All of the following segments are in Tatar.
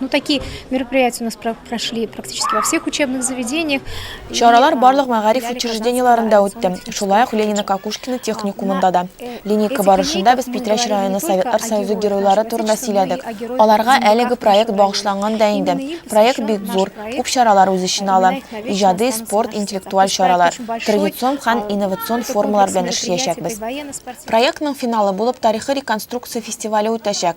Ну, такие мероприятия у нас прошли практически во всех учебных заведениях. Чаралар барлык мәгариф учреждениеларында үтте. Шулай ук Ленина Какушкина техникумында да. Э, Линейка барышында без Питрәч районы Советлар Союзы геройлары турында сөйләдек. Аларга әлеге проект багышланган да инде. Проект бик зур, күп чаралар үз эченә ала. Иҗади, спорт, интеллектуаль чаралар, традицион һәм инновацион формалар белән эшләячәкбез. Проектның финалы булып тарихи реконструкция фестивале үтәчәк.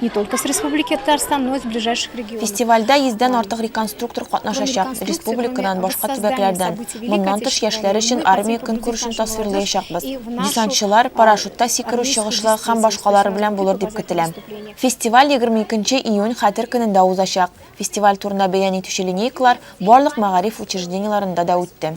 Не только с Республики Татарстан, но и с ближайших регионов. Фестивальдә 100-дән артык реконструктор катнашачак, республикадан, башка төбәкләрдән. Моннан тыш, яшьләр өчен армия көнкүрешен тасвирлаячакбыз. Десантчылар, парашютта сикерү чыгышлы һәм башкалары белән булыр дип көтелә. Фестиваль 22 июнь Хәтер көнендә узачак. Фестиваль турында бәян итүче линейкалар барлык мәгариф учреждениеларында да үтте.